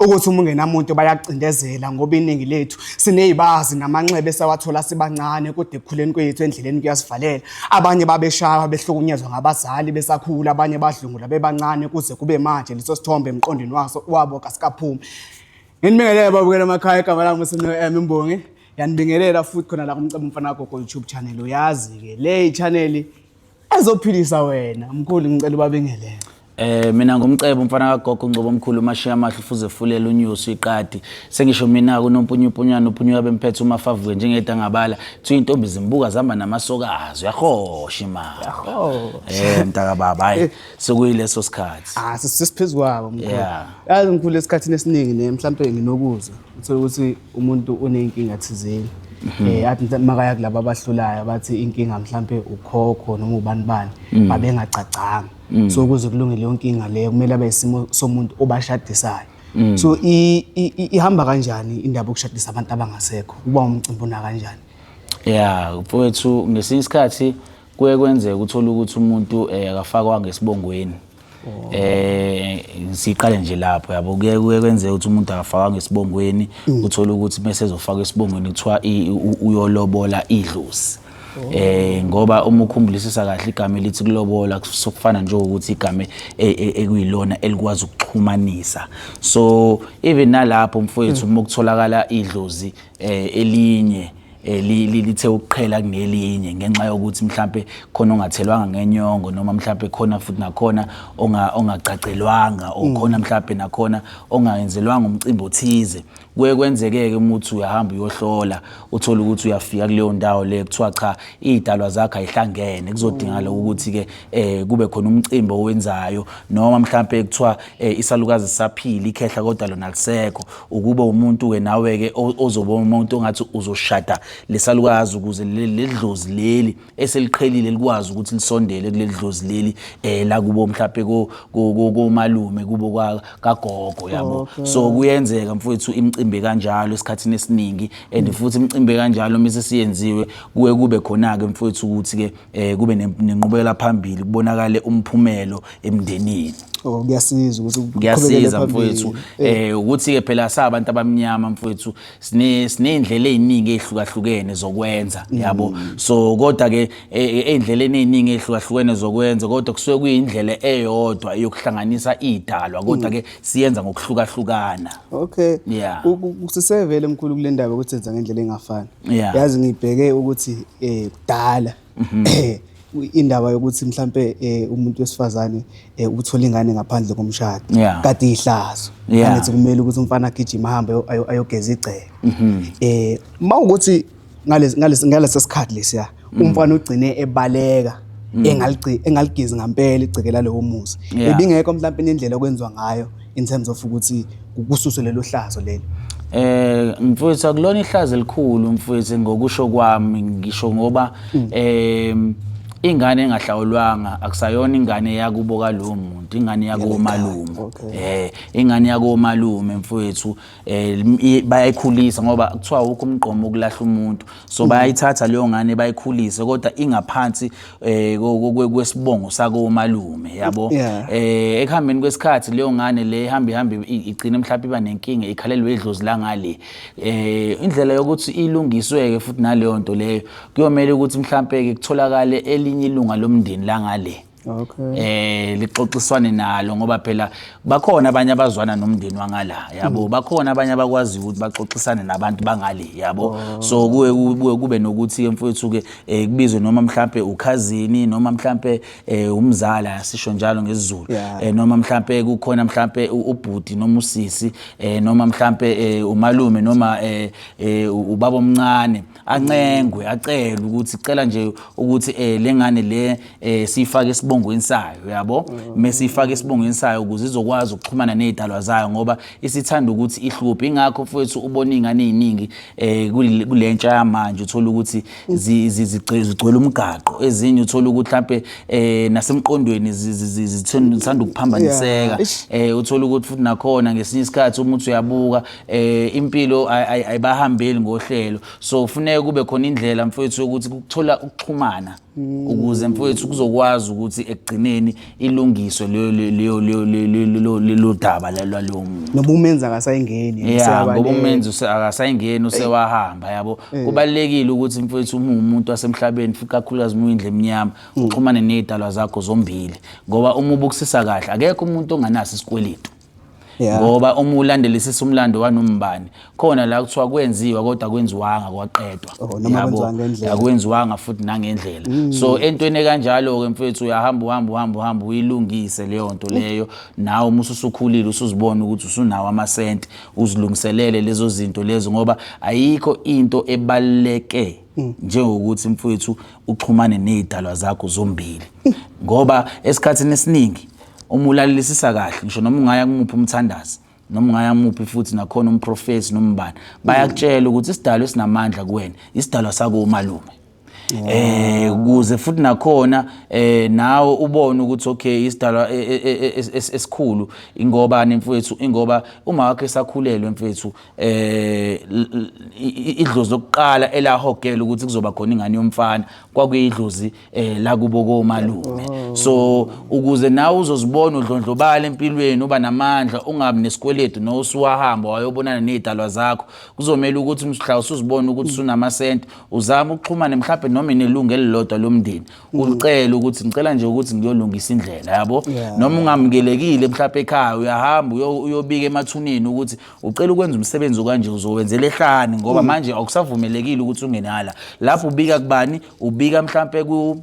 ukuthi uma ungenamuntu bayakucindezela ngoba iningi lethu sinezibazi namanxeba esawathola sibancane kodwa ekukhuleni kwethu endleleni kuyasivalela abanye babeshawa behlukunyezwa ngabazali besakhula abanye badlungula bebancane kuze kube manje leso sithombe emqondweni waso wabo kasikaphumi nginibingelele babukela amakhaya igama lami usino M Mbongi yanibingelela futhi khona la kumcebo mfana gogo YouTube channel uyazi ke le channel ezophilisa wena mkhulu ngicela ubabingelele Eh mina ngumcebo umfana kagogo Ngcobo omkhulu umashiya amahle ufuze fulela unyusi iqadi sengisho mina kunompunyupunyana uphunyuka bemphethe umafavuke njengeda ngabala thi intombi zimbuka zihamba namasokazi uyahosha imali Yahoo. eh mntaka baba hayi sekuyileso sikhathi ah sisiphezulu kwabo mkhulu Yeah. yazi mkhulu esikhathini esiningi ne mhlawumbe nginokuzwa uthole ukuthi umuntu uney'nkinga thizeni um mhm. eh, athi mhlawumbe makaya kulaba abahlulayo bathi inkinga mhlawumpe ukhokho noma ubani bani mhm. babengagcagcanga mhm. so ukuze kulunge leyo nkinga leyo kumele abe isimo somuntu obashadisayo so ihamba kanjani indaba yokushadisa abantu abangasekho uba umcimbi una kanjani ya mfowethu ngesinye isikhathi kuye kwenzeka uthole ukuthi umuntu um akafakwanga esibongweni Oh. eh siqale nje lapho yabo kuye kuye kwenze ukuthi umuntu akafaka ngesibongweni mm. uthola ukuthi bese ezofaka esibongweni kuthiwa uyolobola idlozi oh. eh ngoba uma ukhumbulisa kahle igama elithi kulobola kusukufana nje ukuthi igama e, e, ekuyilona elikwazi ukuxhumanisa so even nalapho mfowethu mm. uma kutholakala idlozi eh, elinye Eh, lithe ukuqhela kunelinye ngenxa yokuthi mhlampe khona ongathelwanga ngenyongo noma mhlampe khona futhi nakhona ongagcagcelwanga or mm. khona mhlampe nakhona ongayenzelwanga umcimbi othize kuye kwenzeke-ke uma uthi uyahamba uyohlola uthole ukuthi uyafika kuleyo ndawo le kuthiwa cha iy'dalwa zakho ayihlangene kuzodingakala mm. ukuthi-ke um kube khona umcimbi owenzayo noma mhlampe kuthiwa um isalukazi sisaphile ikhehla kodwa lona lisekho ukube umuntu ke nawe-ke ozoba umuntu ongathi uzoshada lesalukazi ukuze leli dlozi leli eseliqhelile likwazi ukuthi lisondele kuleli dlozi leli um la kubo mhlawumpe komalume kubo kagogo yabo so kuyenzeka mfowethu imicimbi kanjalo esikhathini esiningi and mm. futhi imicimbi kanjalo uma sesiyenziwe kuye kube khona-ke mfowethu ukuthi-ke eh kube nenqubekela phambili kubonakale umphumelo emndenini oh kuyasiza ukuthi kuyasiza mfowethu eh. eh ukuthi ke phela sabantu abamnyama mfowethu sine sinendlela eziningi ezihlukahlukene zokwenza mm. yabo so kodwa ke endleleni eh, eh, eziningi ezihlukahlukene zokwenza kodwa kusuke kuyindlela eyodwa yokuhlanganisa idalwa kodwa ke mm. siyenza ngokuhlukahlukana okay yeah kusisevele mkhulu kulendaba ukuthi senza ngendlela engafani Yeah. yazi ngibheke ukuthi eh kudala eh, indaba yokuthi mhlambe eh, umuntu wesifazane eh, ukuthola ingane ngaphandle komshado Yeah. kade ihlazo Yeah. angithi kumele ukuthi umfana agijima ahambe ayo- ayo- ayogeza igceke eh mawukuthi ngalesi ngalesi ngalesi sikhathi lesiya mm. umfana ugcine ebaleka mm. engaligezi ngampela igceke lalowo muzi ebingekho mhlawumpe nendlela okwenziwa ngayo in terms of ukuthi kususwe lelo hlazo leli eh mfowethu akulona ihlazo elikhulu mfowethu ngokusho kwami ngisho ngoba mm. eh ingane engahlawulwanga akusayona ingane yakubo kalowo muntu ingane yakomalume eh ingane yakomalume mfowethu um bayayikhulisa ngoba kuthiwa wukho umgqomo ukulahla umuntu so mm. bayayithatha leyo ngane bayikhulise kodwa ingaphansi um kwesibongo sakomalume yabo um ekuhambeni kwesikhathi leyo ngane le ihambe ihambe igcine mhlawumbe iba nenkinga ikhalelwe idlozi langale um indlela yokuthi ilungisweke futhi naleyo nto leyo kuyomele ukuthi mhlawumpe-ke kutholakale elinye ilunga lomndeni langale okay eh lixoxiswane nalo ngoba phela bakhona abanye abazwana nomndeni wangala yabo hmm. bakhona abanye abakwazi ukuthi baxoxisane nabantu bangale yabo oh. so kuwe kuwe kube nokuthi emfowethu ke eh, kubizwe noma mhlambe ukhazini noma mhlambe eh, umzala sisho njalo ngesizulu eh, noma mhlambe kukhona mhlambe ubhuti noma usisi noma mhlambe umalume noma ubaba omncane ancengwe acele ukuthi cela nje ukuthi eh lengane le eh sifake isibongweni sayo yabo mesifake isibongweni sayo ukuze izokwazi ukuxhumana nezidalwa zayo ngoba isithanda ukuthi ihluphe ingakho mfowethu ubona ingane eziningi eh kulentsha yamanje uthola ukuthi zigcwele umgaqo ezinye uthola ukuthi mhlambe eh nasemqondweni zithanda ukuphambaniseka eh uthola ukuthi futhi nakhona ngesinye isikhathi umuntu uyabuka eh impilo ayibahambeli ngohlelo so ufuneka kube khona indlela mfowethu ukuthi kuthola ukuxhumana ukuze mfowethu kuzokwazi ukuthi ekugcineni ilungiswe leyo leyo leyo lelo daba lalo noma umenza akasayingeni yeah ngoba umenzi akasayingeni usewahamba yabo eh. kubalekile ukuthi mfowethu uma umuntu wasemhlabeni futhi kakhulukazi uma uyindle emnyama mm. uxhumane nezidalwa zakho zombili ngoba uma ubukusisa kahle akekho umuntu onganaso isikweletu Yeah. ngoba uma ulandelisisa umlando wanombani khona la kuthiwa kwenziwa kodwa kwenziwanga kwaqedwa Oh, noma Yabo? kwenziwa ngendlela. Mm. akwenziwanga futhi nangendlela so entweni ekanjalo-ke mfethu uyahamba uhamba uhamba uhamba uyilungise leyo nto leyo nawe uma ususukhulile usuzibona ukuthi usunawo amasenti uzilungiselele lezo zinto lezo ngoba ayikho into ebaluleke Mm. njengokuthi mfowethu uxhumane nezidalwa zakho zombili ngoba esikhathini esiningi uma ulalelisisa kahle ngisho noma ungaya kumuphi umthandazi noma ungaya kumuphi futhi nakhona umprofethi nombani bayakutshela ukuthi isidalwa esinamandla kuwena isidalwa sakomalume eh kuze futhi nakhona eh nawe ubone ukuthi okay isidalwa e, e, e, esikhulu ingoba nemfowethu ingoba uma wakhe sakhulelwe mfowethu eh idlozi lokuqala elahogela ukuthi kuzoba khona ingane yomfana kwakuyidlozi eh la kubo komalume oh. so ukuze nawe uzozibona udlondlobala empilweni uba namandla ungabi nesikweletu no usuwahamba wayobonana nezidalwa zakho kuzomela ukuthi mhla usuzibona ukuthi sunama cent uzama ukuxhumana mhlawumbe noma inelungu elilodwa lomndeni mm. ulicela ukuthi ngicela nje ukuthi ngiyolungisa indlela yabo noma ungamukelekile mhlawumbe ekhaya uyahamba uyobika emathuneni ukuthi ucela ukwenza umsebenzi okanje uzowenzela ehlani ngoba mm. manje akusavumelekile ukuthi ungenala lapho ubika kubani ubika mhlampe ku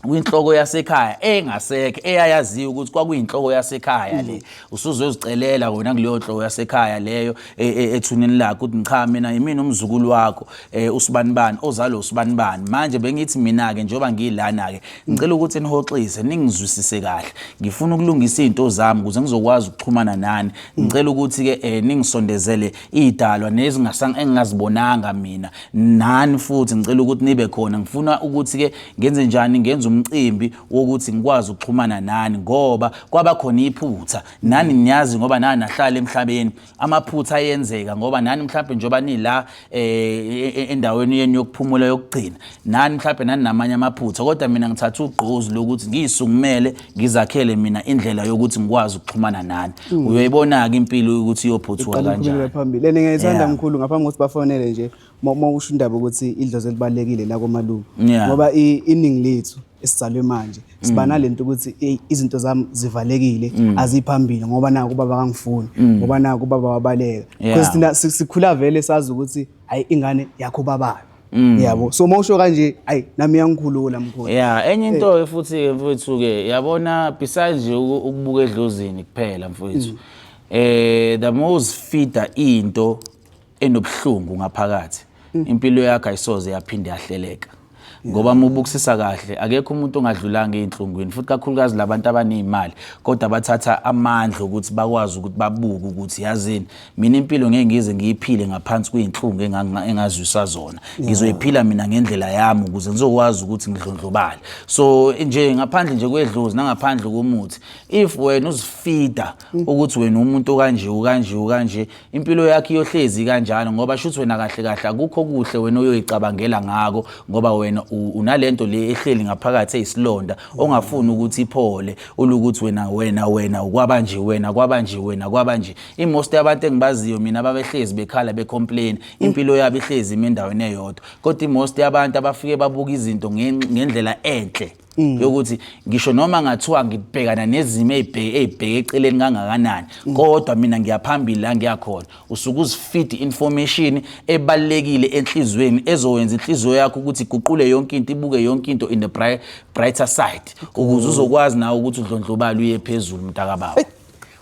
kwinhloko yasekhaya engasekho eyayaziyo ukuthi kwakuyinhloko yasekhaya le mm. usuzwe uzicelela wena kuleyo nhloko yasekhaya leyo e, e, ethuneni lakho ukuthi ngicha mina yimina umzukulu wakho e, usibanibani ozalo usibanibani manje bengithi mina-ke njengoba ngiyilana-ke Ngicela ukuthi nihoxise ningizwisise kahle. Ngifuna ukulungisa izinto zami ukuze ngizokwazi ukuxhumana nani. Ngicela ukuthi ke eh ningisondezele idalwa nezingasanga engingazibonanga mina. Nani futhi ngicela ukuthi nibe khona. Ngifuna ukuthi ke ngenze njani ngenze umcimbi wokuthi ngikwazi ukuxhumana nani ngoba kwaba khona iphutha. Nani niyazi ngoba nani nahlala emhlabeni. amaphutha ayenzeka ngoba nani mhlawumbe njengoba nila eh, endaweni yenu yokuphumula yokugcina nani mhlawumbe nani namanye amaphutha kodwa mina ngithatha ugqozi lokuthi ngiyisungumele ngizakhele mina indlela yokuthi ngikwazi ukuxhumana nani mm. uyoyibona-ke impilo ukuthi iyophuthuka kanjani phambili and ngiyayithanda mkhulu ngaphambi kokuthi bafonele nje uma usho indaba ukuthi idlozi elibalulekile la komalume ngoba iningi lethu esizalwe manje siba mm. nalento ukuthi hey izinto zami zivalekile mm. aziphambili ngoba naku baba kangifuni mm. ngoba naku baba wabaleka because thina sikhula vele sazi ukuthi hayi ingane yakho babayo yabo so mawusho kanje hayi nami yangikhulula mkhulu yeah enye into eh. futhi mfowethu ke yabona besides nje ukubuka edlozini kuphela mfowethu eh the most feeder into enobuhlungu ngaphakathi mm. impilo yakhe ayisoze yaphinde yahleleka ngoba uma ubukisisa kahle akekho umuntu ongadlulanga ey'nhlungwini futhi kakhulukazi labantu abaney'mali kodwa bathatha amandla ukuthi bakwazi ukuthi babuke ukuthi yazini mina impilo ngeke ngize ngiyiphile ngaphansi kwey'nhlungu engazwisa zona ngizoyiphila mina ngendlela yami ukuze ngizokwazi ukuthi ngidlondlobale so nje ngaphandle nje kwedlozi nangaphandle komuthi if wena uzifida ukuthi wena umuntu okanje ukanje ukanje impilo yakhe iyohlezi kanjalo ngoba shuthi wena kahle kahle akukho kuhle wena oyoyicabangela ngako ngoba wena unalento le ehleli ngaphakathi eyisilonda ongafuni ukuthi iphole ulukuthi wena wena wena ukwabanje wena kwabanje wena kwabanje imost yabantu engibaziyo mina ababehlezi bekhala becomplain impilo yabo ihlezi imendaweni eyodwa kodwa imost yabantu abafike babuka izinto ngendlela enhle Mm. yokuthi ngisho noma ngathiwa ngibhekana nezimo ezibheke ezibheke eceleni kangakanani mm. kodwa mina ngiyaphambili la ngiyakhona usuke uzifeed information ebalekile enhlizweni ezowenza inhliziyo yakho ukuthi iguqule yonke into ibuke yonke into in the bright, brighter side ukuze uzokwazi nawe ukuthi udlondlobala uye phezulu mntaka baba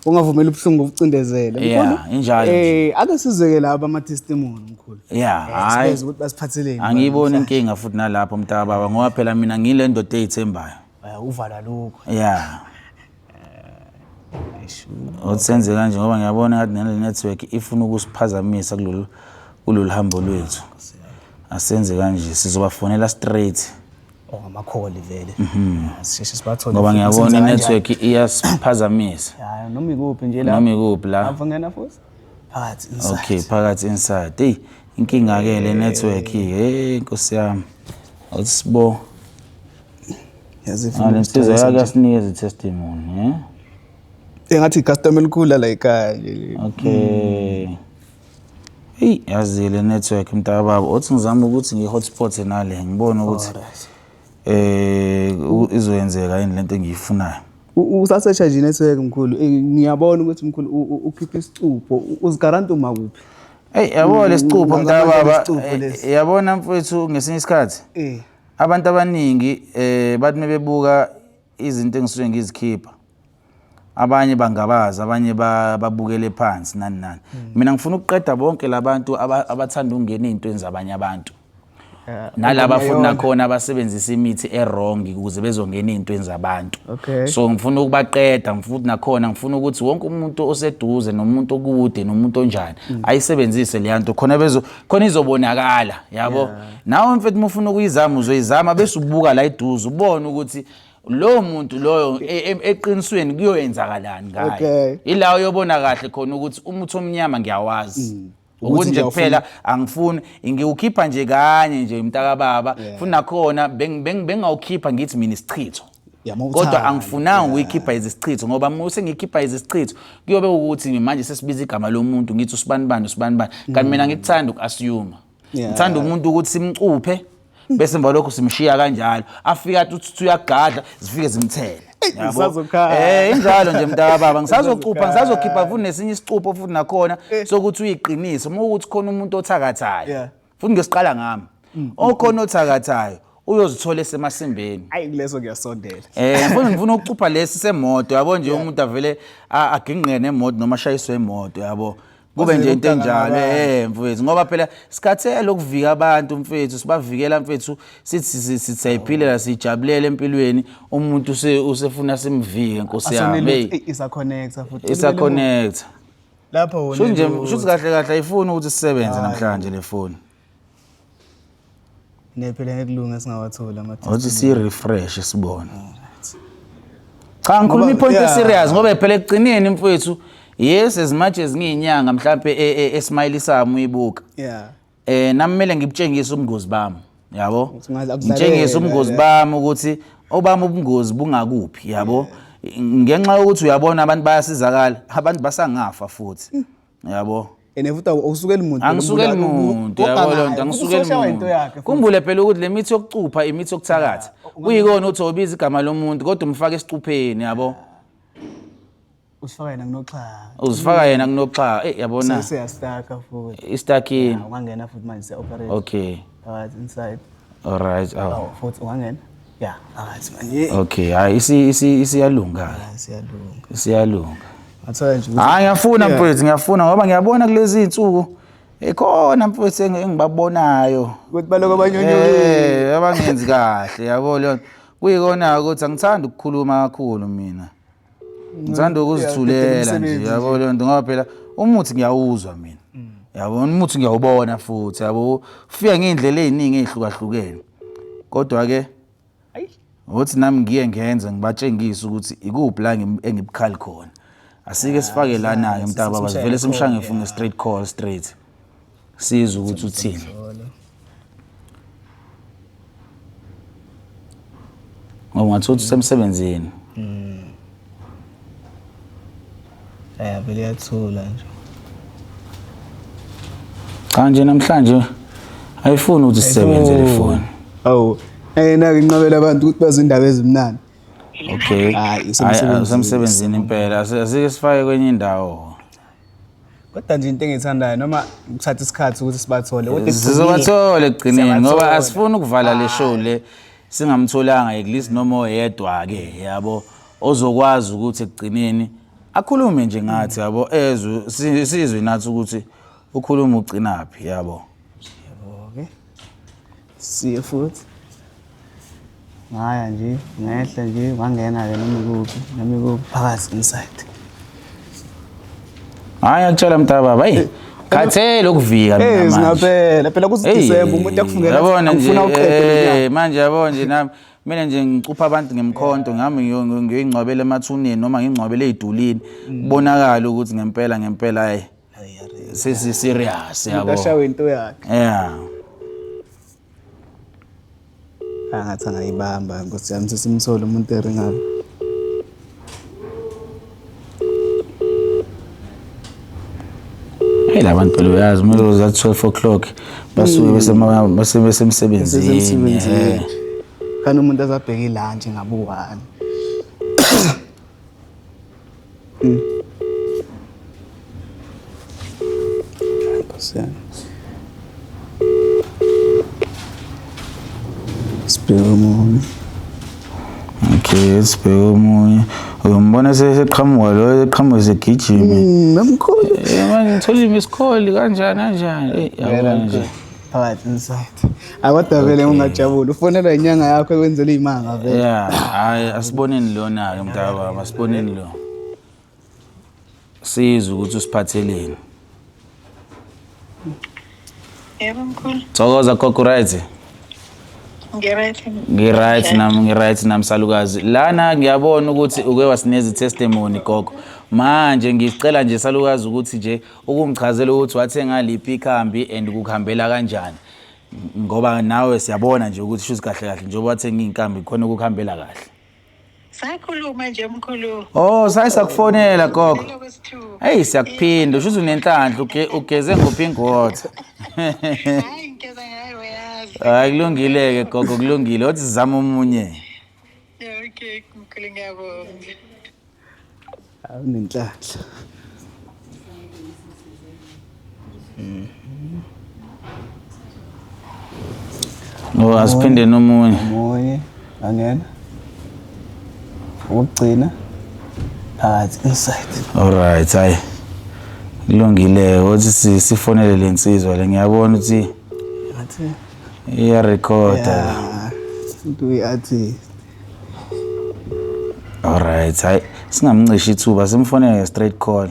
ungavumela ubuhlungu ubucindezele yeah injalo eh ake sizeke laba ama testimony mkhulu yeah eh, hayi sibenza ukuthi basiphatheleni angiyiboni inkinga futhi nalapho mntaka baba ngoba phela mina ngile ndoda eyithembayo eh, uvala lokho yeah eh, otsenze kanje ngoba ngiyabona ngathi nale network ifuna ukusiphazamisa kulolu kulolu hambo lwethu asenze kanje sizobafonela straight or ngamakholi vele mhm. ah, sisheshe sibathole ngoba ngiyabona i-network iyasiphazamisa hayi noma ikuphi nje la noma ikuphi la avungena futhi phakathi inside okay phakathi inside hey inkinga ke le network hey inkosi yami awusibo yazifuna insizwa yake asinikeza i-testimony eh engathi i-customer elikhulu la ekhaya nje okay mm. Eyi yazi le network mntaka baba othi ngizama ukuthi ngi-hotspot nale ngibone ukuthi eh izoyenzeka yini lento engiyifunayo. Usasesha nje network mkhulu eh, ngiyabona ukuthi mkhulu ukhipha isicupho uzigaranta uma kuphi. Eyi yabo lesicupho mntaka baba eh, yabona mfowethu ngesinye isikhathi eh. abantu abaningi eh bathi mebebuka izinto engisuke ngizikhipha abanye bangabaza abanye babukele phansi nani nani hmm. mina ngifuna ukuqeda bonke labantu abathanda ukungena ezintweni zabanye abantu nalaba futhi nakhona abasebenzisa imithi erong ukuze bezongena ezintweni zabantu so ngifuna ukubaqeda ngifuthi nakhona ngifuna ukuthi wonke umuntu oseduze nomuntu okude nomuntu onjani hmm. ayisebenzise leya nto khona bezo khona izobonakala yabo nawe mfethu uma ufuna ukuyizama uzoyizama bese ubuka la iduze ubone ukuthi lowo muntu loyo e- e- eqinisweni kuyoyenzakalani ngaye Okay. ila uyobona kahle khona ukuthi umuthi omnyama ngiyawazi Mm. Ukuthi ukuthi nje ngiyawufuna. kuphela angifuni ngiwukhipha nje kanye nje mntakababa Yeah. futhi nakhona beng- beng- bengawukhipha ngithi mina isichitho Yeah, uma kodwa uthanda. angifunanga Yeah. ukuyikhipha izichitho ngoba uma sengikhipha izichitho kuyobe ukuthi manje sesibiza igama lomuntu ngithi usibanibani usibanibani Mm. kanti mina ngikuthanda uku-assume ngithanda umuntu ukuthi simcuphe bese emva lokho simshiya kanjalo afike athi uthi uyagadla zifike zimthele Eh injalo nje mntaka baba ngisazocupha ngisazokhipha futhi nesinye isicupho futhi nakhona eh. sokuthi uyiqiniso uma ukuthi khona umuntu othakathayo futhi ngesiqala ngami mm, mm, okhona mm. othakathayo uyozithola esemasimbeni ayi kuleso ngiyasondela eh mfuna ngifuna ukucupha lesi semoto yabo nje umuntu avele agingqene nemoto noma ashayiswe imoto yabo kube nje into enjalo eh mfethu ngoba phela sikhathele ukuvika abantu mfethu sibavikela mfethu sithi sithayiphilela sijabulele empilweni umuntu usefuna simvike nkosi yami hey isa connecta futhi isa connecta lapho wona shuthi kahle kahle ayifuni ukuthi sisebenze namhlanje le foni nephela ngekulunga esingawathola amathuba Uthi si refresh sibone. Cha ngikhuluma Ngoba- ipoint yeah. eserious ngoba phela ekugcineni mfowethu yes as much as ngiyinyanga mhlambe e- e- esmile sami uyibuka. yeah Eh nami kumele ngibutshengise ubungozi bami. Yabo? Ukuthi ngaze akudlalele, Ngitshengise ubungozi yeah. bami ukuthi obami ubungozi bungakuphi yabo? Ngenxa yokuthi uyabona abantu bayasizakala, abantu basangafa futhi. yabo and futhi awusukeli muntu angisukeli muntu yabo loo nto angisukeli muntu kumbule phela ukuthi le mithi yokucupha imithi yokuthakatha kuyikona ukuthi obiza igama lomuntu kodwa umfake esicupheni yabo usifaka yena kunoxhaka uzifaka yena kunoxhaka eh yabona sesiyastaka futhi istakini ungangena futhi manje siya operate okay phakathi inside all right awu futhi ungangena ya angathi manje okay hayi isi isi isiyalunga ah, siyalunga isiyalunga ngathola nje ukuthi- hayi ngiyafuna Yeah. mfowethu ngiyafuna ngoba ngiyabona kulezi iy'nsuku ikhona mfowethu engi- engibabonayo ukuthi baloko abanyonyoyile Eh, abangenzi kahle yabo leyo nto. kuyikona-ke ukuthi angithandi ukukhuluma kakhulu mina ngithanda ukuzithulela nje yabo leyo nto ngoba phela umuthi ngiyawuzwa mina mm. yabo umuthi ngiyawubona futhi yabo ufika ngey'ndlela ey'ningi ey'hlukahlukene kodwa-ke ngokuthi nami ngiye ngenze ngibatshengise ukuthi ikuphi la engibukhali khona asike ah, sifake lana-ke mntaba bazivele simshangefunge straight call straight sizwe ukuthi uthini ngoba ungathola ukuthi usemsebenzini hmm. ya vele yathula nje cha nje namhlanje ayifuni ukuthi sisebenze le foni awu ayena-ke inqabela abantu ukuthi bazi indaba ezimnandi okay hayi usemsebenzini impela asike sifake kwenye indawo kodwa nje into engiyithandayo noma kuthatha isikhathi ukuthi sibathole kodwa ekugcineni- sizobathole ekugcineni ngoba Siyabathola. asifuni ukuvala le show le singamtholanga at least noma oyedwa-ke yabo ozokwazi ukuthi ekugcineni akhulume nje ngathi yabo ezwe si- sizwe nathi ukuthi ukhuluma ugcinaphi yabo siye futhi ngaya nje ngehla nje wangena-ke noma ikuphi noma ikuphi phakathi inside hhayi akutshela mntaba bayi eh, khathele ukuvika mina eh, manje phela kusidisemba umuntu akufunela yabona nje eh, manje yabo nje nami mina nje ngicupha abantu ngemkhonto ngihamba ngiyoyingcwabela emathuneni noma ngingcwabele ey'dulini mm. kubonakale ukuthi ngempela ngempela ayi sesi serious yabo ashawe into yakhe yeah angathi angayibamba nkosi yami sesimthole umuntu eringayo Hey labantu phela uyazi uma uzoza 12 o'clock basuke mm. besema basemsebenzini. Kana umuntu azabheka ilanje ngabu 1. Mm. Sibheke omunye. Okay, sibheke omunye. Uyombona seqhamuka lo eqhamuka segijima. Mm, Namkhulu. Eh, manje ngithola imisikholi kanjani kanjani. Eh, yabona nje. phakathi inside akodwa vele ungajabula ufonelwa inyanga yakho ekwenzela iy'manga vele Yeah, hayi asiboneni lona-ke mntaka baba, asiboneni lo. Sizwe ukuthi usiphatheleni. Yebo mkhulu. Thokoza gogo right. Ngiryt. Ngi-right nami ngi-right nami salukazi. Lana ngiyabona ukuthi uke wasineza i-testimony gogo. Manje ngicela nje salukazi ukuthi nje ukungichazela ukuthi wathenga liphi ikhambi and kukuhambela kanjani ngoba nawe siyabona nje ukuthi shuthi kahle kahle njengoba wathenga iy'nkambi khona ukukuhambela kahle sakhuluma nje mkhulu oh saye sakufonela gogo eyi siyakuphinda ushuthi unenhlanhla uge- ugeze ngopink water hayi ngigeza ngayo yazi hayi kulungile-ke gogo kulungile othi zama omunye okay mkhulu ngiyabonga awunenhlanhla mm. ngoba asiphinde nomunye omunye angena ukugcina phakathi inside alright hayi kulungile othi sifonele le nsizwa le ngiyabona ukuthi iya recorder into uyi-artist Alright, hayi singamncishi ithuba simfonele nge straight call.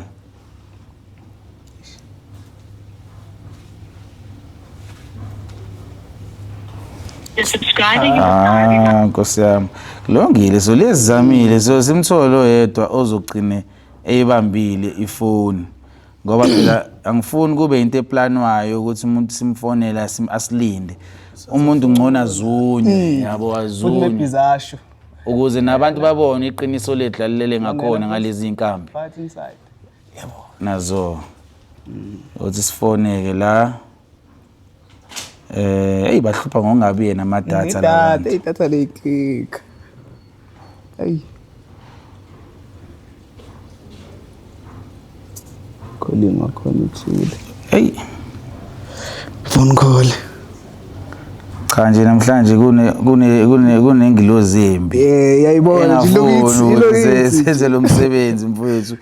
The subscriber you have dialed is Ah, Nkosi yami. Kulungile so lezi zamile so simthole oyedwa ozogcine eyibambile ifoni. ngoba phela angifuni kube into eplanwayo ukuthi umuntu simfonele asilinde umuntu ngcono azunywe hmm. yabo azunywe ukuze nabantu babone iqiniso lethu lalilele ngakhona ngalezi nkambi yabo nazo hmm. uthi sifoneke la Eh, hey bahlupha ngokungabi yena ama data Idatha, labantu. idatha leyicika. Ayi. Calling wakhona uthule. Hey, Phone call. cha nje namhlanje kune kune kune kunengilozi embi. Eh, yayibona nje Engafuni ilokithi, ukuthi se- ilokithi. senze lo msebenzi mfowethu.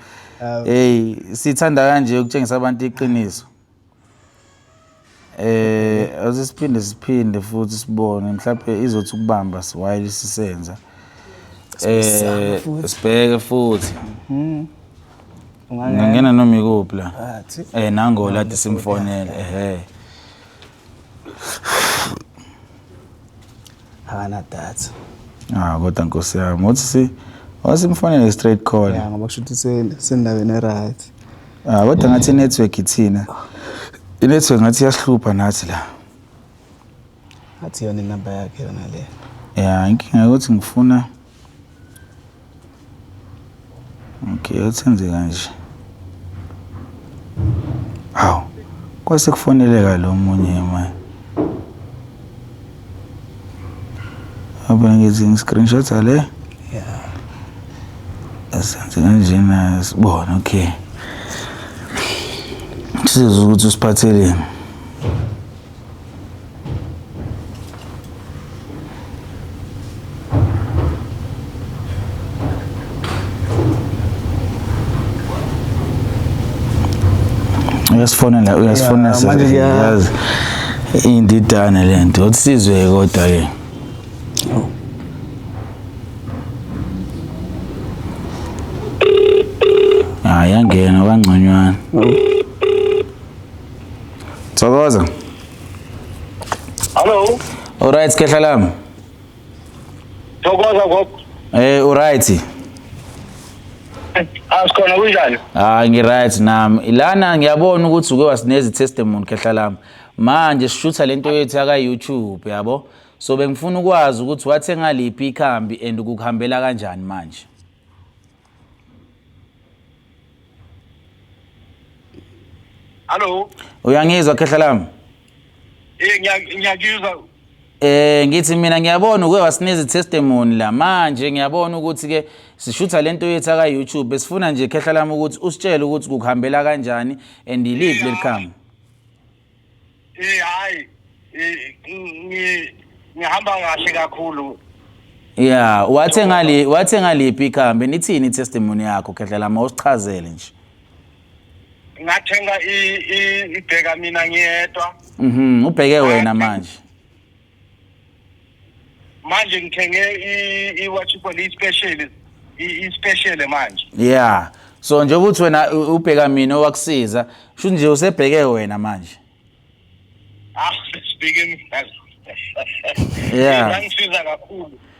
Hey, sithanda kanje ukutshengisa abantu iqiniso. Ase siphinde siphinde futhi sibone mhlawumpe izothi ukubamba while sisenza um sibheke futhi hmm. ungangena noma ikuphi la um nangolade simfonele ehe Hana data. Ah kodwa nkosi yami uthi si wasimfonele straight call. Yeah ngoba kusho ukuthi sendaweni eright. Ah kodwa ngathi network ithina. I-network ngathi iyahlupha nathi la. Ngathi yona inamba yakhe yona le. Yeah inkinga ukuthi ngifuna Okay, yathi enze kanje. Hawu, kwase kufoneleka lo munye manje. Abangithi ngi-screenshot le. Yeah. Asenze kanjena sibona, okay. Sizwe ukuthi usiphatheleni. uyasifonela uyasifonela yazi indidane lento uthi sizwe kodwa ke hayi angena kwangconywana Thokoza. Hello. Alright, khehla lami. Thokoza gogo. Eh, uright. Asikhona kunjani? Ah, ngiright nami. Ilana ngiyabona ukuthi uke wasinezi testimony khehla lami. Manje sishutha lento yethu yaka YouTube, yabo? So bengifuna ukwazi ukuthi wathenga liphi ikhambi and ukukuhambela kanjani manje? Hallo. Uyangizwa khehla lami? Eh ngiyakuzwa. Eh ngithi mina ngiyabona uke wasinikeza testimony la manje ngiyabona ukuthi ke sishutha lento yethu aka YouTube besifuna nje khehla lami ukuthi usitshele ukuthi kukuhambela kanjani and iliphi lelikhama. Eh hayi ngihamba kahle kakhulu Yeah, wathe ngali wathe ngaliphi ikhambi nithini testimony yakho khehlela ma usichazele nje. Ngathenga i ibheka mina ngiyedwa. Mhm, ubheke wena manje. manje ngithenge i-what you call i-special i-special manje yeah so nje ukuthi wena ubheka mina owakusiza shuthi nje usebheke wena manje ah sibheke mina yeah ngangisiza kakhulu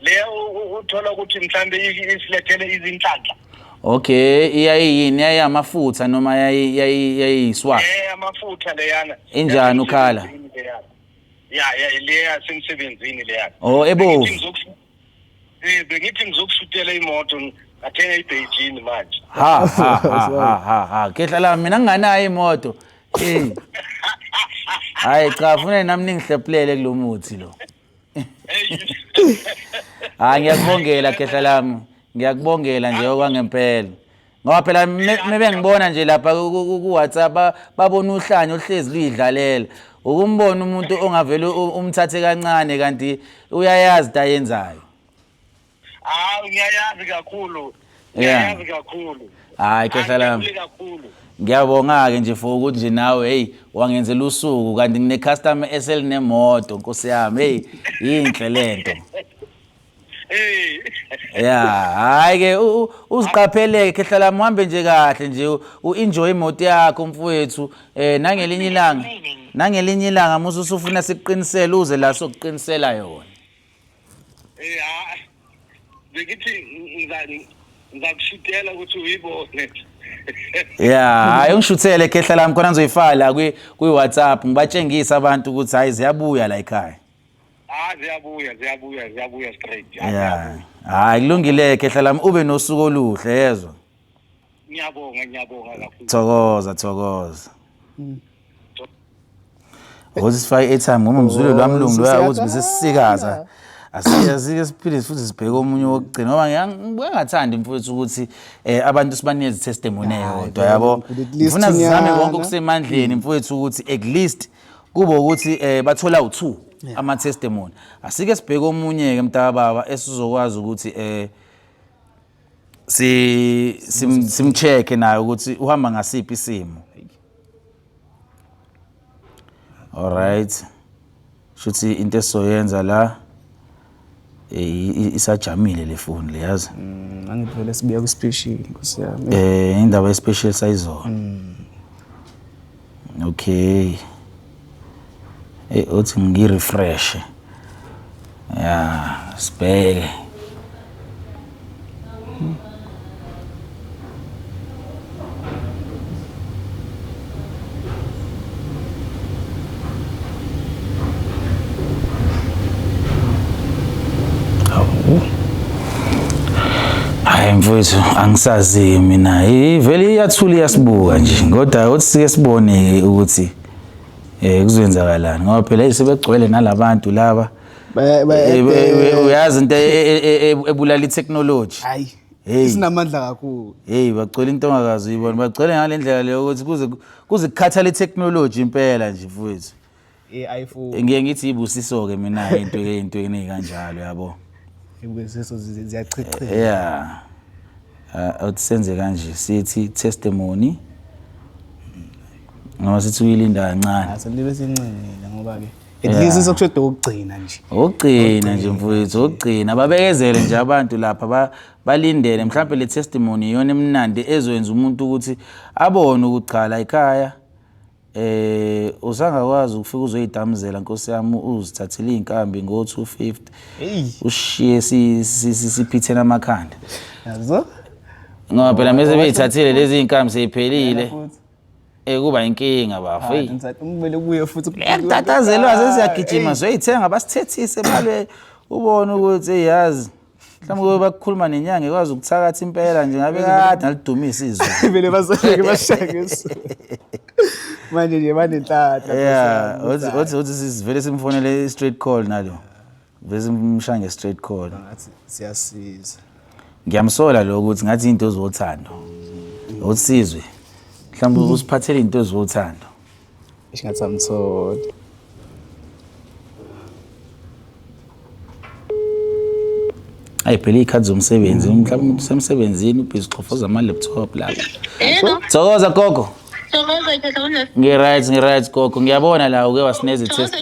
le uthola ukuthi mhlambe isilethele izinhlanhla okay iyayiyini yayamafutha noma yayiyiswa eh amafutha leyana injani ukhala ya ya leya semsebenzini leya oh ebovu eh bengithi ngizokushutela imoto ngathenga iBeijing manje ha ha ha ha ha kehla la mina nginganayo imoto eh hayi cha funa nami ningihlephulele kulomuthi lo hayi ngiyakubongela khehla lami ngiyakubongela nje okwangempela ngoba phela mebengibona nje lapha ku-whatsapp babona uhlanya oluhlezi luyidlalela ukumbona umuntu ongavele umthathe kancane kanti uyayazi into ayenzayo Hawu ngiyayazi kakhulu. Yeah. Ngiyayazi kakhulu. Hayi khehla lami. Angijabule kakhulu. Ngiyabonga-ke nje for ukuthi nje nawe heyi wangenzela usuku kanti ngine-customer eselinemoto nkosi yami heyi yinhle le nto Hey. ya hhayi-ke u- u- uziqapheleke khehla lami uhambe nje kahle nje u- u-enjoy imoto yakho mfowethu um nangelinye ilanga nangelinye ilanga musa usufuna sikuqinisele uze la sokuqinisela yona Eh ha. Ngithi ngizani ngizakushutela ukuthi uyibone. Yeah, hayi ungishuthele khehla lami khona ngizoyifala kwi kwi WhatsApp ngibatshengisa abantu ukuthi hayi ziyabuya la ekhaya. Ah ziyabuya ziyabuya ziyabuya straight. Yeah. Hayi kulungile khehla lami ube nosuku oluhle yezwa. ngiyabonga ngiyabonga kakhulu thokoza thokoza mm. ukuthi sifake airtime ngoba umzwile oh, lwamlungu loya ukuthi besesisikaza asike siphinde futhi sibheke omunye wokugcina ngoba ngibuke ngathandi mfowethu ukuthi um abantu sibanike izitestimony eyodwa yabo ngifuna sizame konke okusemandleni mfowethu ukuthi at least kube ukuthi um bathola u-two amatestimony asike sibheke omunye-ke mntakababa esizokwazi ukuthi um si simcheck sim naye ukuthi uhamba ngasiphi isimo all right shuthi into esoyenza la eh, isajamile le phone le yazi mm, angiphele sibuya ku special nkosi yami eh indaba ye special sayizona mm. Okay. Hey uthi ngi refresh. Yeah, sibheke. Hayi mfowethu angisazi mina ivele iyathula iyasibuka nje kodwa uthi sike sibone ukuthi eh kuzoyenzakalani ngoba phela sebegcwele nalabantu laba uyazi into ebulala i-technology hey sinamandla kakhulu hey bagcwele into ongakazi uyibona bagcwele ngale ndlela leyo ukuthi kuze kuze kukhathala itechnology impela nje mfowethu eh ayifuni ngiye ngithi ibusiso ke mina into ke into eningi kanjalo yabo ibusiso ziyachitheka yeah uh, uthi senze kanje sithi testimony ngoba sithi uyilinda kancane asilibesincengile ngoba ke at least Yeah. sokushoda ukugcina nje ukugcina nje mfowethu ukugcina babekezele nje abantu lapha ba- balindele mhlawumbe le testimony iyona emnandi ezokwenza umuntu ukuthi abone ukuthi cha la ikhaya eh usangakwazi ukufika uzoyidamuzela nkosi yami uzithathele iy'nkambi ngo-250 eyi ushiye si- si- si- siphithene amakhanda yazo ngoba phela mese beyithathile lezi y'nkambi seyiphelile Futhi. Eh kuba inkinga bafo. Hey. Kumele kuye futhi ukutatazelwa sesiyagijima zoyithenga basithethise balwe ubone ukuthi yazi mhlawumbe kube bakukhuluma nenyanga ekwazi ukuthakatha impela nje ngabe kade nalidumisa izwe vele bazosheke bashake manje nje banenhlahla yeah uthi uthi sivele simfonele straight call nalo Vese umshange straight call. Ngathi siyasiza. Ngiyamsola lo ukuthi ngathi into ezothando. Usizwe. Mhlawumbe usiphathele into ezothando. Isingathi amtholi. Ayi phela ikhadi zomsebenzi mhlawumbe usemsebenzini ubhizi xofoza ama laptop la. Thokoza gogo. Thokoza ke thokoza. Ngi right ngi right gogo ngiyabona la uke wasineze test.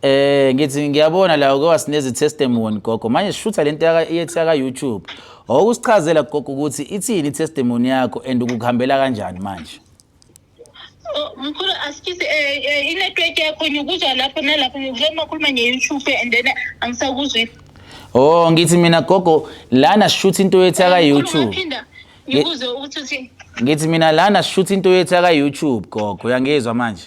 Eh ngithi ngiyabona la uke wasineza i-testimony gogo. Manje sishutha le nto yaka- yethi yaka-YouTube. Wawukusichazela gogo ukuthi ithini i-testimony yakho and ukukuhambela kanjani manje? Oh, mkhulu asikisi eh, eh, inetwork yakho ngikuzwa lapho nalapho ngikuzwa uma khuluma nge-youtube and then angisakuzwi Oh ngithi mina gogo lana sishutha into yethi Eh, mkhulu, yaka-YouTube. ungaphinda ngikuze ukuthi uthi Ngithi mina lana sishutha into yethi yaka-YouTube gogo. Uyangizwa manje?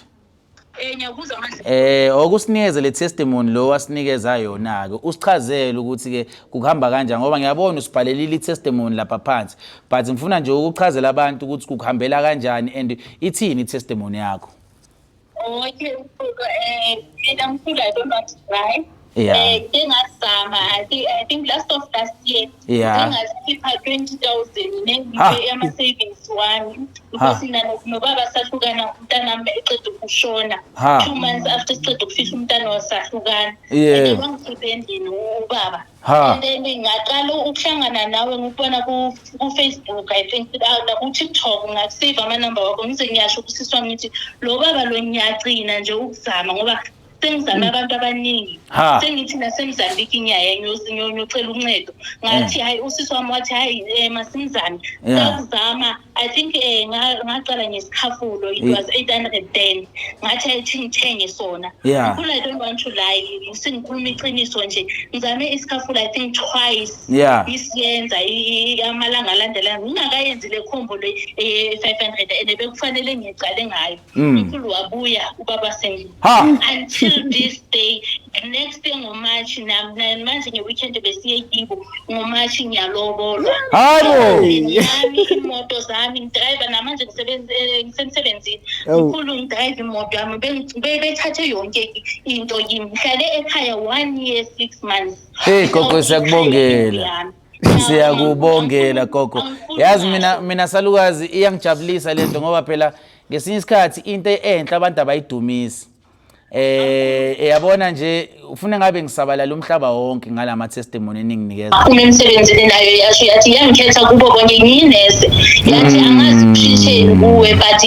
Eh ngiyakuzwa manje. Eh okusinikeze le testimony lo wasinikeza yona ke usichazele ukuthi ke kuhamba kanjani ngoba ngiyabona usibhalelile itestimony lapha phansi but ngifuna nje ukuchazela abantu ukuthi kuhambela kanjani and ithini itestimony yakho. Okay, eh mina ngifuna lo right. yeah. eh engazama i think i think last of last year yeah engazikhipha 20000 nengibe ama savings wami because nalo nobaba sahlukana umntana wami eqeda ukushona two months after siqeda ukufihla umntana wasahlukana yeah wangikhiphe endlini ubaba and then ngaqala ukuhlangana nawe ngikubona ku-facebook i think ah, naku-tiktok ngakusave amanumber wakho ngize ngiyasho kusiswa ngithi lo baba lo ngiyagcina nje ukuzama ngoba sengizame abantu abaningi Ha. sengithi nasemzambiki ngiyaye ngiyosi- ngiyo- ngiyocela uncedo ngathi hayi usisi wami wathi hayi um masimzame Yeah. sakuzama i think um ngaqala ngesikhafulo it Yeah. was eight hundred then ngathi hayi thi ngithenge sona Yeah. Ngikhumbula i don't want to lie sengikhuluma iqiniso nje ngizame isikhafulo i think twice Yeah. ngisiyenza i- i- amalanga alandelana ngingakayenzi le khombo le eh, five hundred and bekufanele ngiqale ngayo uNkulunkulu mm. wabuya ubaba Sengile until this day next day ngomarch manje ngeweekend besiye kibo ngomarch ngiyalobolwa yami imoto zami ngidrive namanje eh, ngisemsebenzini mkhulu ngidrive imoto yami bethathe yonke into kimi ngihlale ekhaya one year six months hey gogo siyakubongela Siyakubongela gogo. Yazi mina mina salukazi iyangijabulisa lento ngoba phela ngesinye isikhathi into enhle abantu abayidumisi. Eh eyabona nje ufuna ngabe ngisabalala umhlaba wonke ngalama testimony eninginikeza. Uma imisebenzi enayo yasho yathi yangikhetha kubo konke ngiyinese. Yathi mm. angazi kushisheni kuwe but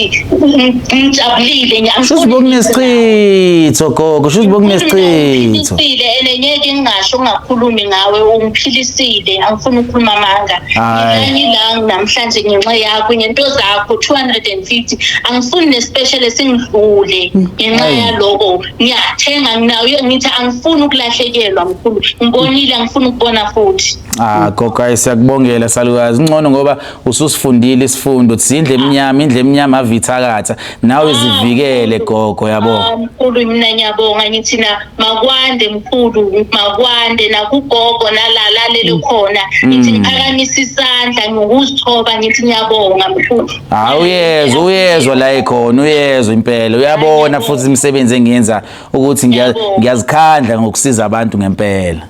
ngijabulile ngiyamfuna. Shuthi bokunesichitho gogo, shuthi bokunesichitho. Sipho. Sile ene ngeke ngingasho ungakhulumi ngawe ungiphilisile angifuni ukukhuluma amanga. Hayi. Ngilanye la namhlanje ngenxa yakho ngento zakho 250 angifuni nespecial esingidlule ngenxa Ayi. yaloko ngiyathenga nginayo ngithi angifuni ukulahlekelwa mkhulu ngibonile angifuni ukubona futhi. Ah gogo ayi siyakubongela salukazi. Ngcono ngoba ususifundile isifundo ukuthi indle emnyama indle emnyama avithakatha nawe zivikele gogo yabo ah, mkhulu mina ngiyabonga ngithi na makwande mkhulu makwande nakugogo nalalalele mm. khona mm. ngithi ngiphakamisa isandla ngokuzithoba ngithi ngiyabonga mkhulu hayi uyezwa uyezwa la ekhona uyezwa impela uyabona futhi imisebenzi engiyenza ukuthi ngiyazikhandla ngokusiza abantu ngempela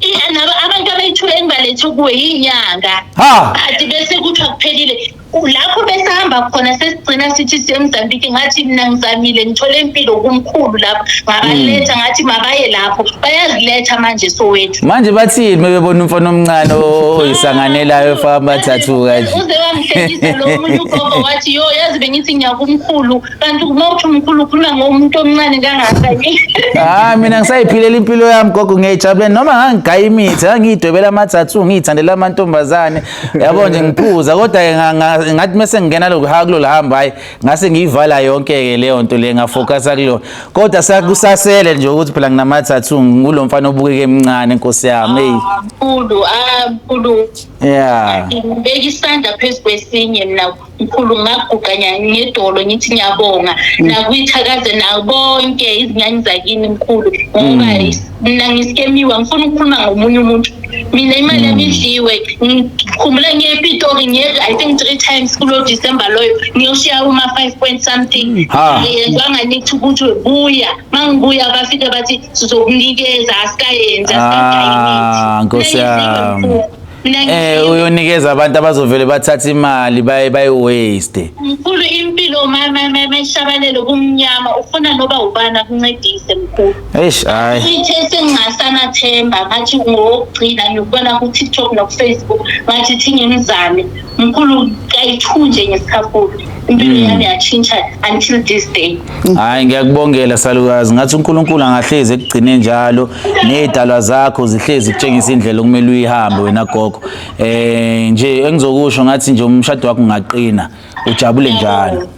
I- nabo abantu abayithula engibalethe kuwe yinyanga Ha! kade bese kuthiwa kuphelile U- lapho besihamba khona sesigcina sithi sisemzambiki ngathi mina ngizamile ngithole impilo kumkhulu lapho ngabaletha ngathi mabaye lapho bayaziletha manje sowethu Manje bathini mebebona umfana omncane o- oyisanganelayo efamba thathu kanje. uze wamhlekisa lo munye ugogo wathi yo yazi bengithi ngiyakumkhulu kanti uma uthi umkhulu ukhuluma ngomuntu omncane kangaka hayi mina ngisayiphilela impilo yami gogo ngiyayijabulela noma ngangigaya imithi ngangiyidwebela amathathu ngiyithandela amantombazane yabo nje ngiphuza kodwa-ke ngathi mese ngingena lokuhaya kulolu hamba hhayi ngase ngiyivala yonke-ke leyo nto le ngafokasa kulona kodwa sakusasele nje ukuthi phela nginamathathu ngulo mfana obukeke emncane nkosi yami eyi ah, mkhulu ah, mkhulu ya ngibeka isandla phezu kwesinye mna mkhulu ngaguqa ngedolo ngithi ngiyabonga mm. nakwithakaze nabonke izinyanya zakini mkhulu ngoba mm. mina ngisikemiwa ngifuna ukukhuluma ngomunye umuntu mina imali yami mm. idliwe ngikhumbula ngiyepitori ngiye i think three times kulo december loyo ngiyoshiya uma five point something yezwa nganithi ukuthi buya ma ngibuya bafike bathi sizokunikeza asikayenzi asikayenzi ah, nkosi yami Eh uyonikeza abantu abazovele bathatha imali baye bayi waste. Mkhulu impilo mama mama ishabalelo kumnyama ufuna noba ubana kuncedise mkhulu. Eish hayi. Sithe sengasana themba ngathi ngokugcina ngikubona ku TikTok no Facebook ngathi thingimzame. mkhulu kayi-two nje ngesikhakhulu impilo Mm. yami yatshintsha until this day hayi ngiyakubongela salukazi ngathi unkulunkulu angahlezi ekugcine njalo ney'dalwa zakho zihlezi kutshengisa indlela okumele uyihambe wena gogo um nje engizokusho ngathi nje umshado wakho ungaqina ujabule njalo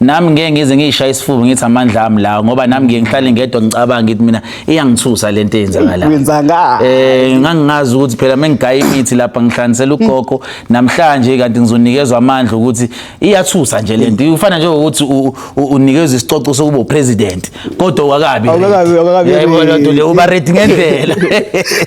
nami ngeke ngize ngiyishaya isifuba ngithi amandla ami lawo ngoba nami ngeke ngihlale ngedwa ngicabanga ngithi mina iyangithusa lento eyenzakala wenzanga eh ngangingazi ukuthi phela mengigaya imithi lapha ngihlanganisela ugogo namhlanje kanti ngizonikezwa amandla ukuthi iyathusa nje lento ufana nje ukuthi unikezwe isicoco sokuba upresident kodwa wakabi awukakabi awukakabi yebo loo nto leyo uba rate ngendlela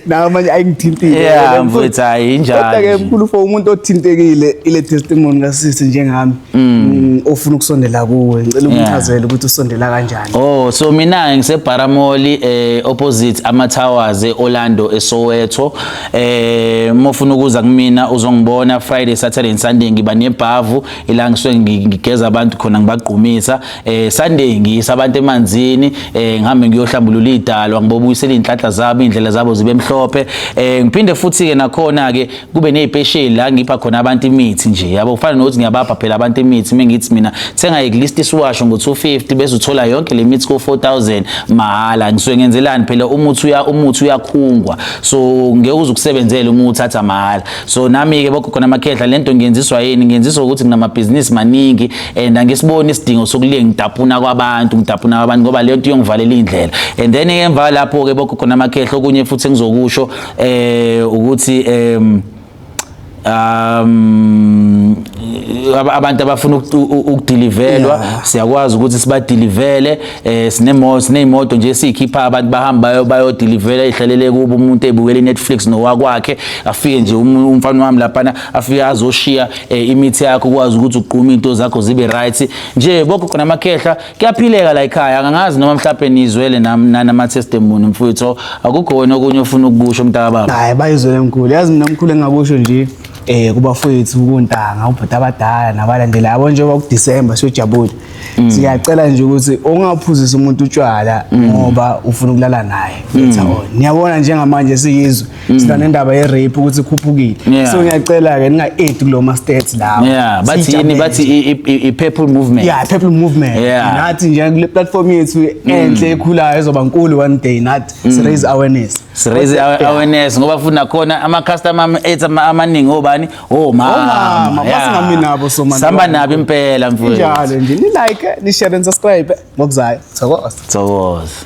nawo manje ayingithintile yeah mfethu hayi injalo kodwa ke mkhulu for umuntu othintekile ile testimony kasisi njengami mm. Mm, ofuna ukusondela kuwe ngicela umchazele ukuthi usondela kanjani oh so mina ngise Baramoli eh opposite ama Towers eOrlando eSoweto eh mofuna ukuza kumina uzongibona Friday Saturday and Sunday ngiba nebhavu ila ngisuke ngigeza abantu khona ngibagqumisa eh Sunday ngiyisa abantu emanzini eh ngihambe ngiyohlambulula idalwa ngibobuyisela inhlanhla zabo indlela zabo zibe mhlophe eh ngiphinde futhi ke nakhona ke kube nezipesheli la ngipha khona abantu imithi nje yabo kufana nokuthi ngiyabapha phela abantu imithi mengithi mina thenga iglist isiwasho ngo 250 bese uthola yonke le mithi ko 4000 mahala ngisuke ngenzelani phela umuthi uya umuthi uyakhungwa so ngeke uzukusebenzela uma uthatha mahala so nami ke bokho khona amakhehla lento ngiyenziswa yini ngiyenziswa ukuthi nginamabhizinisi maningi and angisiboni isidingo sokuliye ngidapuna kwabantu ngidapuna kwabantu ngoba leyo nto iyongivalela indlela and then emva lapho ke bokho khona amakhehlo okunye futhi engizokusho eh ukuthi um um abantu abafuna ukudelivelwa siyakwazi ukuthi sibadelivele eh sinemoto sinemoto nje sikhipha abantu bahamba bayodelivelwa ihlalele kubo umuntu ebukela iNetflix nowakwakhe afike nje um, umfana wami lapha afike azoshiya eh, imithi yakho ukwazi ukuthi ugqume into zakho zibe right nje bokho khona amakhehla kuyaphileka la ekhaya angangazi noma mhlawumbe nizwele nama testimony mfowethu akukho wena okunye ofuna ukukusho mntaka baba hayi bayizwele mkhulu yazi mina mkhulu engakusho nje eh kubafowethu kuntanga ubhuti abadala nabalandela yabo njengoba kuDecember siyojabula mm. siyacela nje ukuthi ungaphuzisa umuntu utshwala mm. ngoba ufuna ukulala naye mm. niyabona njengamanje siyizwe Mm. sina nendaba ye-rape ukuthi ikhuphukile yeah. so ngiyacela-ke ninga-aid kulo ma-states lawo yeah. bathi yini bathi i-purple movement yeah, purple movement yeah. nathi nje kule platform yethu mm. enhle ekhulayo ezoba nkulu one day nathi mm. si-raise awareness si-raise yeah. awareness ngoba futhi nakhona ama-customer ethu amaningi obani omama basingami nabo sihamba nabo impela mfowethu njalo nje ni-like ni-share and subscribe ngokuzayo thokoza thokoza